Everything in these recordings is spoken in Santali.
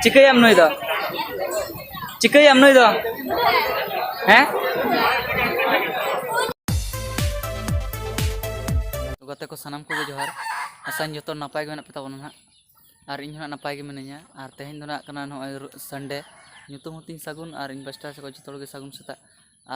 ᱪᱤᱠᱟᱹᱭᱟᱢ ᱱᱩᱭ ᱫᱚ ᱪᱤᱠᱟᱹᱭᱟᱢ ᱱᱩᱭ ᱫᱚ ᱦᱮᱸ ᱜᱟᱛᱮ ᱠᱚ ᱥᱟᱱᱟᱢ ᱠᱚᱜᱮ ᱡᱚᱦᱟᱨ ᱟᱥᱟᱧ ᱡᱚᱛᱚ ᱱᱟᱯᱟᱭ ᱜᱮ ᱢᱮᱱᱟᱜ ᱯᱮ ᱛᱟᱵᱚᱱᱟ ᱱᱟᱦᱟᱜ ᱟᱨ ᱤᱧ ᱦᱚᱸ ᱱᱟᱯᱟᱭ ᱜᱮ ᱢᱤᱱᱟᱹᱧᱟ ᱟᱨ ᱛᱮᱦᱮᱧ ᱫᱚ ᱱᱟᱜ ᱠᱟᱱᱟ ᱱᱚᱜᱼᱚᱭ ᱥᱟᱱᱰᱮ ᱧᱩᱛᱩᱢ ᱦᱚᱸᱛᱤᱧ ᱥᱟᱹᱜᱩᱱ ᱟᱨ ᱤᱧ ᱯᱟᱥᱴᱟ ᱥᱮᱫ ᱡᱚᱛᱚ ᱦᱚᱲ ᱜᱮ ᱥᱟᱹᱜᱩᱱ ᱥᱮᱛᱟᱜ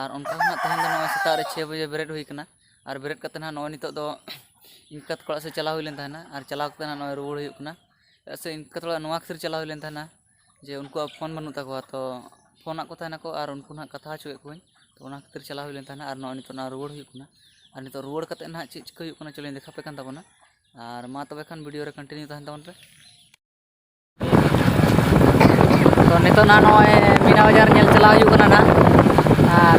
ᱟᱨ ᱚᱱᱠᱟ ᱦᱚᱸ ᱱᱟᱜ ᱛᱮᱦᱮᱧ ᱫᱚ ᱱᱚᱜᱼᱚᱭ ᱥᱮᱛᱟᱜ ᱨᱮ ᱪᱷᱮ ᱵᱟᱡᱮ ᱵᱮᱨᱮᱫ ᱦᱩᱭ ᱠᱟᱱᱟ ᱟᱨ ᱵᱮᱨᱮᱫ ᱠᱟᱛᱮ ᱱᱟᱜ ᱱᱚᱜᱼᱚᱭ ᱱᱤᱛᱚᱜ ᱫᱚ ᱤᱧ ᱠᱟᱛ ᱠᱚᱲᱟ ᱥᱮᱫ ᱪᱟᱞᱟᱣ ᱦᱩᱭ ᱞᱮᱱ ᱛᱟᱦᱮᱱᱟ ᱟᱨ ᱪᱟᱞᱟᱣ ᱠᱟᱛᱮ ᱱᱟᱜ ᱱᱚᱜᱼᱚᱭ ᱨᱩᱣᱟᱹᱲ ᱦᱩᱭᱩᱜ ᱠᱟᱱᱟ ᱪᱮᱫᱟᱜ ᱥᱮ ᱤᱱᱠᱟᱹ ᱛᱷᱚᱲᱟ ᱱᱚᱣᱟ ᱠᱷᱟᱹᱛᱤᱨ ᱪᱟᱞᱟᱣ ᱦᱩᱭ ᱞᱮᱱ ᱛᱟᱦᱮᱱᱟ ᱡᱮ ᱩᱱᱠᱩᱣᱟᱜ ᱯᱷᱳᱱ ᱵᱟᱹᱱᱩᱜ ᱛᱟᱠᱚᱣᱟ ᱛᱚ ᱯᱷᱳᱱ ᱟᱫ ᱠᱚ ᱛᱟᱦᱮᱱᱟᱠᱚ ᱟᱨ ᱩᱱᱠᱩ ᱱᱟᱦᱟᱜ ᱠᱟᱛᱷᱟ ᱦᱚᱪᱚᱭᱮᱫ ᱠᱚᱣᱟᱧ ᱛᱚ ᱚᱱᱟ ᱠᱷᱟᱹᱛᱤᱨ ᱪᱟᱞᱟᱣ ᱦᱩᱭ ᱞᱮᱱ ᱛᱟᱦᱮᱱᱟ ᱟᱨ ᱱᱚᱜᱼᱚᱭ ᱱᱤᱛᱚᱜ ᱱᱟᱦᱟᱜ ᱨᱩᱣᱟᱹᱲ ᱦᱩᱭᱩᱜ ᱠᱟᱱᱟ ᱟᱨ ᱱᱤᱛᱚᱜ ᱨᱩᱣᱟᱹᱲ ᱠᱟᱛᱮᱫ ᱱᱟᱦᱟᱜ ᱪᱮᱫ ᱪᱤᱠᱟᱹ ᱦᱩᱭᱩᱜ ᱠᱟᱱᱟ ᱪᱚᱞᱚᱧ ᱫᱮᱠᱷᱟ ᱟᱯᱮ ᱠᱟᱱ ᱛᱟᱵᱚᱱᱟ ᱟᱨ ᱢᱟ ᱛᱚᱵᱮ ᱠᱷᱟᱱ ᱵᱷᱤᱰᱤᱭᱳ ᱨᱮ ᱠᱚᱱᱴᱤᱱᱤᱭᱩ ᱛᱟᱦᱮᱱ ᱛᱟᱵᱚᱱ ᱯᱮ ᱛᱚ ᱱᱤᱛᱚᱜ ᱱᱟᱦᱟᱜ ᱱᱚᱜᱼᱚᱭ ᱢᱤᱱᱟ ᱵᱟᱡᱟᱨ ᱧᱮᱞ ᱪᱟᱞᱟᱣ ᱦᱩᱭᱩᱜ ᱠᱟᱱᱟ ᱱᱟᱦᱟᱜ ᱟᱨ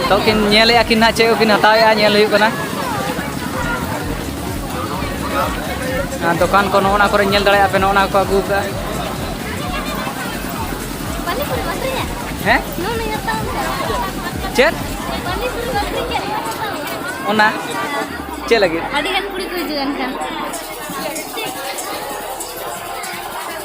ᱱᱤᱛᱚᱜ ᱠᱤᱱ ᱧᱮᱞᱮᱫᱼᱟ ᱠᱤᱱ ᱦᱟᱸᱜ ᱪᱮᱫ ᱠᱚᱠᱤᱱ ᱦᱟᱛᱟᱣᱮᱫᱼᱟ ᱧᱮᱞ ᱦᱩᱭᱩᱜ ᱠᱟᱱᱟ ᱫᱚᱠᱟᱱ ᱠᱚ ᱱᱚᱜᱼᱚ ᱱᱟ ᱠᱚᱨᱮ ᱧᱮᱞ ᱫᱟᱲᱮᱭᱟᱜᱼᱟ ᱯᱮ ᱱᱚᱜᱼᱚ ᱱᱟ ᱠᱚ ᱟᱹᱜᱩ ᱠᱟᱜᱼᱟ ᱦᱮᱸ ᱪᱮᱫ ᱚᱱᱟ ᱪᱮᱫ ᱞᱟᱹᱜᱤᱫ ᱟᱹᱰᱤ ᱜᱟᱱ ᱠᱩᱲᱤ ᱠᱚ ᱦᱤᱡᱩᱜᱼᱟ ᱮᱱᱠᱷᱟᱱ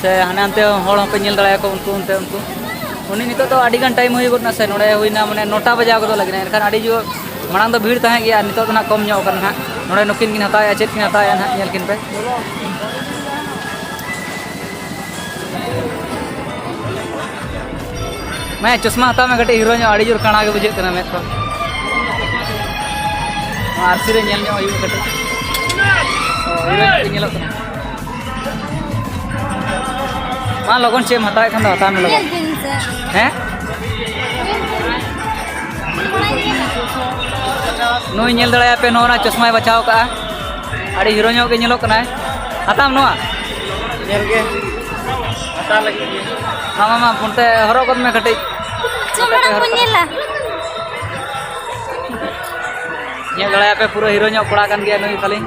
ᱥᱮ ᱦᱟᱱᱮ ᱦᱟᱱᱛᱮ ᱦᱚᱲ ᱦᱚᱸᱯᱮ ᱧᱮᱞ ᱫᱟᱲᱮᱭᱟᱠᱚ ᱩᱱᱠᱩ ᱚᱱᱛᱮ ᱩᱱᱠᱩ ᱩᱱᱤ ᱱᱤᱛᱚᱜ ᱫᱚ ᱟᱹᱰᱤ ᱜᱟᱱ ᱴᱟᱭᱤᱢ ᱦᱩᱭ ᱜᱚᱫ ᱮᱱᱟ ᱥᱮ ᱱᱚᱰᱮ ᱦᱩᱭᱱᱟ ᱢᱟᱱᱮ ᱱᱚᱴᱟ ᱵᱟᱡᱟᱣ ᱜᱚᱫᱚᱜ ᱞᱟᱹᱜᱤᱫ ᱮᱱᱠᱷᱟᱱ ᱟᱹᱰᱤ ᱡᱳᱨ ᱢᱟᱲᱟᱝ ᱫᱚ ᱵᱷᱤᱲ ᱛᱟᱦᱮᱸ ᱜᱮᱭᱟ ᱱᱤᱛᱚᱜ ᱫᱚ ᱱᱟᱦᱟᱜ ᱠᱚᱢ ᱧᱚᱜ ᱠᱟᱱᱟ ᱱᱟᱦᱟᱜ ᱱᱚᱰᱮ ᱱᱩᱠᱤᱱ ᱠᱤᱱ ᱦᱟᱛᱟᱣᱮᱜᱼᱟ ᱪᱮᱫ ᱠᱤᱱ ᱦᱟᱛᱟᱣᱮᱜᱼᱟ ᱱᱟᱦᱟᱜ ᱧᱮᱞ ᱠᱤᱱ ᱯᱮ ᱢᱟᱭᱟ ᱪᱚᱥᱢᱟ ᱦᱟᱛᱟᱣ ᱢᱮ ᱠᱟᱹᱴᱤᱡ ᱦᱤᱨᱳ ᱧᱚᱜ ᱟᱹᱰᱤ ᱡᱳᱨ ᱠᱟᱬᱟ ᱜᱮ ᱵᱩᱡᱷᱟᱹᱜ ᱠᱟᱱᱟ ᱢᱮᱫ ᱠᱚ ᱟᱨᱥᱤ ᱨᱮ ᱧᱮᱞ ᱧᱚᱜ ᱦᱩᱭᱩᱜᱼᱟ ᱠᱟᱹᱴᱤᱡ ᱦᱤᱨᱳ ᱧᱚᱜ ᱧᱮᱞᱚᱜ ᱠᱟᱱᱟ ᱢᱟ ᱞᱚᱜᱚᱱ ᱪᱮᱫ ᱮᱢ ᱦᱟᱛᱟᱣᱮᱫ ᱠᱷᱟᱱ ᱫᱚ ᱦᱟᱛᱟᱣ ᱢᱮ ᱞᱚᱜᱚᱱ ᱦᱮᱸ ᱱᱩᱭ ᱧᱮᱞ ᱫᱟᱲᱮᱭᱟᱯᱮ ᱱᱚᱣᱟ ᱪᱚᱥᱢᱟᱭ ᱵᱟᱪᱷᱟᱣ ᱠᱟᱜᱼᱟ ᱟᱹᱰᱤ ᱦᱤᱨᱳ ᱧᱚᱜ ᱜᱮ ᱧᱮᱞᱚᱜ ᱠᱟᱱᱟᱭ ᱦᱟᱛᱟᱣ ᱱᱚᱣᱟ ᱧᱮᱞ ᱜᱮ ᱦᱟᱛᱟᱣ ᱞᱟᱹᱜᱤᱫ ᱢᱟ ᱢᱟ ᱢᱟ ᱚᱱᱛᱮ ᱦᱚᱨᱚᱜ ᱜᱚᱫ ᱢᱮ ᱠᱟᱹᱴᱤᱡ ᱧᱮᱞ ᱫᱟᱲᱮᱭᱟᱯᱮ ᱯᱩᱨᱟᱹ ᱦᱤᱨᱳ ᱧᱚᱜ ᱠᱚᱲᱟ ᱠᱟᱱ ᱜᱮᱭᱟ ᱱᱩᱭ ᱛᱟᱹᱞᱤᱧ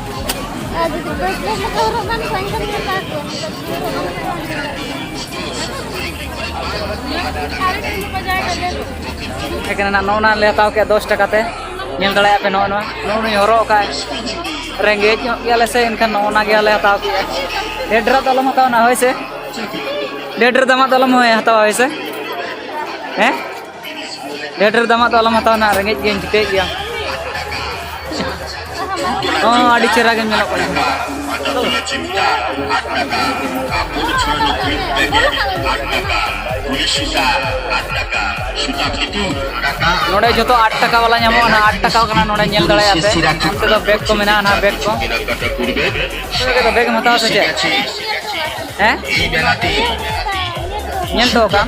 ᱮᱠᱷᱟᱱ ᱱᱚᱜᱼᱚ ᱱᱟ ᱞᱮ ᱦᱟᱛᱟᱣ ᱠᱮᱫᱟ ᱫᱚᱥ ᱴᱟᱠᱟ ᱛᱮ ᱧᱮᱞ ᱫᱟᱲᱮᱭᱟᱜ ᱯᱮ ᱱᱚᱜᱼᱚ ᱱᱚᱣᱟ ᱱᱚᱜᱼᱚ ᱱᱩᱭ ᱦᱚᱨᱚᱜ ᱟᱠᱟᱫ ᱨᱮᱸᱜᱮᱡ ᱧᱚᱜ ᱜᱮᱭᱟᱞᱮ ᱥᱮ ᱮᱱᱠᱷᱟन ᱱᱚᱜᱼᱚ ᱱᱟ ᱜᱮ ᱟᱞᱮ ᱦᱟᱛᱟᱣ ᱠᱮᱫᱟ ᱰᱷᱮᱨ ᱰᱷᱮᱨ ᱫᱚ ᱟᱞᱚᱢ ᱦᱟᱛᱟᱣᱟ ᱱᱟ ᱦᱳᱭ ᱥᱮ ᱰᱷᱮᱨ ᱰᱷᱮᱨ ᱫᱟᱢᱟᱜ ᱫᱚ ᱟᱞᱚᱢ ᱦᱟᱛᱟᱣᱟ ᱦᱳᱭ ᱥᱮ ᱦᱮᱸ ᱰᱷᱮᱨ ᱰᱷᱮᱨ ᱫᱟᱢᱟᱜ ᱫᱚ ᱟᱞᱚᱢ ᱦᱟᱛᱟᱣ ᱱᱟ ᱨᱮᱸᱜᱮᱡ ᱜᱮᱭᱟᱹᱧ ᱪᱤᱠᱟᱹᱭᱮᱫ ᱜᱮᱭᱟᱢ ᱦᱚᱸ ᱟᱹᱰᱤ ᱪᱮᱦᱨᱟ ᱜᱮᱢ ᱧᱮᱞᱚᱜ ᱠᱟᱱᱟ ᱱᱚᱰᱮ ᱡᱚᱛᱚ ᱟᱴ ᱴᱟᱠᱟ ᱵᱟᱞᱟ ᱧᱟᱢᱚᱜᱼᱟ ᱱᱟ ᱟᱴ ᱴᱟᱠᱟ ᱠᱟᱱᱟ ᱱᱚᱰᱮ ᱧᱮᱞ ᱫᱟᱲᱮᱭᱟᱜ ᱯᱮ ᱚᱱᱛᱮ ᱫᱚ ᱵᱮᱜᱽ ᱠᱚ ᱢᱮᱱᱟᱜᱼᱟ ᱱᱟ ᱵᱮᱜᱽ ᱠᱚ ᱵᱮᱜᱽ ᱮᱢ ᱦᱟᱛᱟᱣᱟ ᱥᱮ ᱪᱮᱫ ᱦᱮᱸ ᱧᱮᱞ ᱴᱚ ᱠᱟᱜ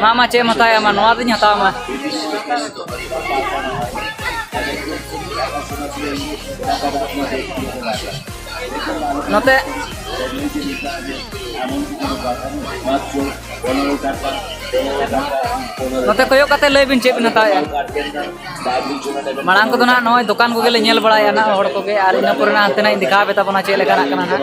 ᱢᱟ ᱢᱟ ᱪᱮᱫ ᱮᱢ ᱦᱟᱛᱟᱣᱟ ᱢᱟ ᱱᱚᱣᱟ ᱫᱚᱧ ᱦᱟᱛᱟᱣᱟ ᱢᱟ ᱱᱚᱛᱮ ᱱᱚᱛᱮ ᱠᱚᱭᱚᱜ ᱠᱟᱛᱮ ᱞᱟᱹᱭ ᱵᱤᱱ ᱪᱮᱫ ᱵᱤᱱ ᱦᱟᱛᱟᱣᱮᱜᱼᱟ ᱢᱟᱲᱟᱝ ᱠᱚᱫᱚ ᱱᱟᱦᱟᱜ ᱱᱚᱜᱼᱚᱭ ᱫᱚᱠᱟᱱ ᱠᱚᱜᱮ ᱞᱮ ᱧᱮᱞ ᱵᱟᱲᱟᱭᱟ ᱱᱟᱦᱟᱜ ᱦᱚᱲ ᱠᱚᱜᱮ ᱟᱨ ᱤᱱᱟᱹ ᱯᱚᱨᱮ ᱱᱟᱦᱟᱜ ᱦᱟᱱᱛᱮ ᱱᱟᱜ ᱤᱧ ᱫᱮᱠᱷᱟᱣ ᱟᱯᱮ ᱛᱟᱵᱚᱱᱟ ᱪᱮᱫ ᱞᱮᱠᱟᱱᱟᱜ ᱠᱟᱱᱟ ᱱᱟᱦᱟᱜ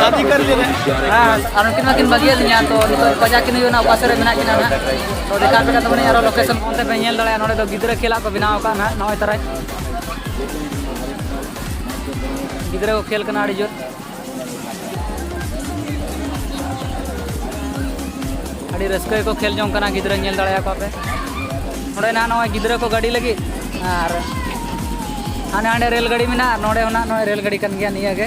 ᱥᱟᱫᱤ ᱠᱟᱨ ᱞᱮ ᱦᱮᱸ ᱟᱨ ᱩᱱᱠᱤᱱ ᱢᱟ ᱠᱤᱱ ᱵᱟᱹᱜᱤᱭᱟᱫ ᱞᱤᱧᱟ ᱛᱚ ᱱᱤᱛᱚᱜ ᱯᱟᱡᱟ ᱠᱤᱱ ᱦᱩᱭᱩᱜᱼᱟ ᱚᱠᱟ ᱥᱮᱫ ᱨᱮ ᱢᱮᱱᱟᱜ ᱠᱤᱱᱟ ᱱᱟᱦᱟᱜ ᱛᱚ ᱫᱮᱠᱷᱟ ᱯᱮ ᱠᱟᱛᱮ ᱢᱟᱱᱮ ᱟᱨᱚ ᱞᱳᱠᱮᱥᱚᱱ ᱚᱱᱛᱮ ᱯᱮ ᱧᱮᱞ ᱫᱟᱲᱮᱭᱟᱜᱼᱟ ᱱᱚᱰᱮ ᱫᱚ ᱜᱤᱫᱽᱨᱟᱹ ᱠᱷᱮᱞᱟᱜ ᱠᱚ ᱵᱮᱱᱟᱣ ᱟᱠᱟᱫ ᱱᱟᱦᱟᱜ ᱱᱚᱜᱼᱚᱭ ᱛᱟᱨᱟᱭ ᱜᱤᱫᱽᱨᱟᱹ ᱠᱚ ᱠᱷᱮᱞ ᱠᱟᱱᱟ ᱟᱹᱰᱤ ᱡᱳᱨ ᱟᱹᱰᱤ ᱨᱟᱹᱥᱠᱟᱹ ᱜᱮᱠᱚ ᱠᱷᱮᱞ ᱡᱚᱝ ᱠᱟᱱᱟ ᱜᱤᱫᱽᱨᱟᱹ ᱧᱮᱞ ᱫᱟᱲᱮᱭᱟᱠᱚᱣᱟ ᱯᱮ ᱱᱚᱰᱮ ᱱᱟᱦᱟᱜ ᱱᱚᱜᱼᱚᱭ ᱜᱤᱫᱽᱨᱟᱹ ᱠᱚ ᱜᱟᱹᱰᱤ ᱞᱟᱹᱜᱤᱫ ᱟᱨ ᱦᱟᱸᱰᱮ ᱦᱟᱸᱰᱮ ᱨᱮᱞ ᱜᱟᱹᱰᱤ ᱢᱮᱱᱟᱜᱼᱟ ᱱᱚᱰᱮ ᱦᱚᱸ ᱱᱟᱦᱟᱜ ᱱᱚᱜᱼᱚᱭ ᱨᱮᱞ ᱜᱟᱹᱰᱤ ᱠᱟᱱ ᱜᱮᱭᱟ ᱱᱤᱭᱟᱹ ᱜᱮ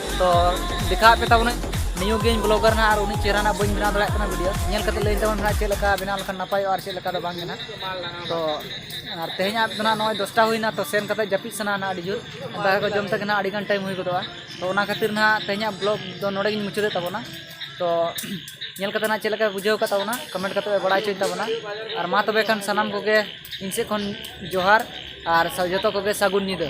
ᱛᱚ ᱫᱮᱠᱷᱟᱣᱟᱫ ᱯᱮ ᱛᱟᱵᱚᱱᱟᱹᱧ ᱱᱤᱭᱩ ᱜᱮᱧ ᱵᱞᱚᱜᱟᱨ ᱱᱟ ᱟᱨ ᱩᱱᱤ ᱪᱮᱦᱨᱟ ᱱᱟ ᱵᱟᱹᱧ ᱵᱮᱱᱟᱣ ᱫᱟᱲᱮᱭᱟᱜ ᱠᱟᱱᱟ ᱵᱷᱤᱰᱤᱭᱳ ᱧᱮᱞ ᱠᱟᱛᱮ ᱞᱟᱹᱭ ᱛᱟᱵᱚᱱ ᱱᱟ ᱪᱮᱫ ᱞᱮᱠᱟ ᱵᱮᱱᱟᱣ ᱞᱮᱠᱷᱟᱱ ᱱᱟᱯᱟᱭᱚᱜᱼᱟ ᱟᱨ ᱪᱮᱫ ᱞᱮᱠᱟ ᱫᱚ ᱵᱟᱝ ᱜᱮ ᱛᱚ ᱟᱨ ᱛᱮᱦᱮᱧᱟᱜ ᱫᱚ ᱱᱟᱜ ᱱᱚᱜᱼᱚᱭ ᱫᱚᱥᱴᱟ ᱦᱩᱭᱱᱟ ᱛᱚ ᱥᱮᱱ ᱠᱟᱛᱮ ᱡᱟᱹᱯᱤᱫ ᱥᱟᱱᱟ ᱱᱟ ᱟᱹᱰᱤ ᱡᱳᱨ ᱫᱟᱠᱟ ᱠᱚ ᱡᱚᱢ ᱛᱮᱜᱮ ᱱᱟᱜ ᱟᱹᱰᱤ ᱜᱟᱱ ᱴᱟᱭᱤᱢ ᱦᱩᱭ ᱜᱚᱫᱚᱜᱼᱟ ᱛᱚ ᱚᱱᱟ ᱠᱷᱟᱹᱛᱤᱨ ᱱᱟᱜ ᱛᱮᱦᱮᱧᱟᱜ ᱵᱞᱚᱜ ᱫᱚ ᱱᱚᱰᱮ ᱜᱤᱧ ᱢᱩᱪᱟᱹᱫᱮᱫ ᱛᱟᱵᱚᱱᱟ ᱛᱚ ᱧᱮᱞ ᱠᱟᱛᱮ ᱱᱟᱜ ᱪᱮᱫ ᱞᱮᱠᱟ ᱵᱩᱡᱷᱟᱹᱣ ᱠᱟᱫ ᱛᱟᱵᱚᱱᱟ ᱠᱚᱢᱮᱱᱴ ᱠᱟᱛᱮ ᱵᱟᱲᱟᱭ ᱦᱚᱪᱚᱭ ᱛᱟᱵᱚᱱᱟ ᱟᱨ ᱢᱟ ᱛᱚᱵᱮ ᱠᱷᱟᱱ ᱥᱟᱱᱟᱢ ᱠᱚᱜᱮ ᱤᱧ ᱥᱮᱫ ᱠᱷᱚᱱ ᱡᱚᱦᱟᱨ ᱟᱨ ᱡᱚᱛᱚ ᱠᱚᱜᱮ ᱥᱟᱹᱜᱩᱱ ᱧᱤᱫᱟᱹ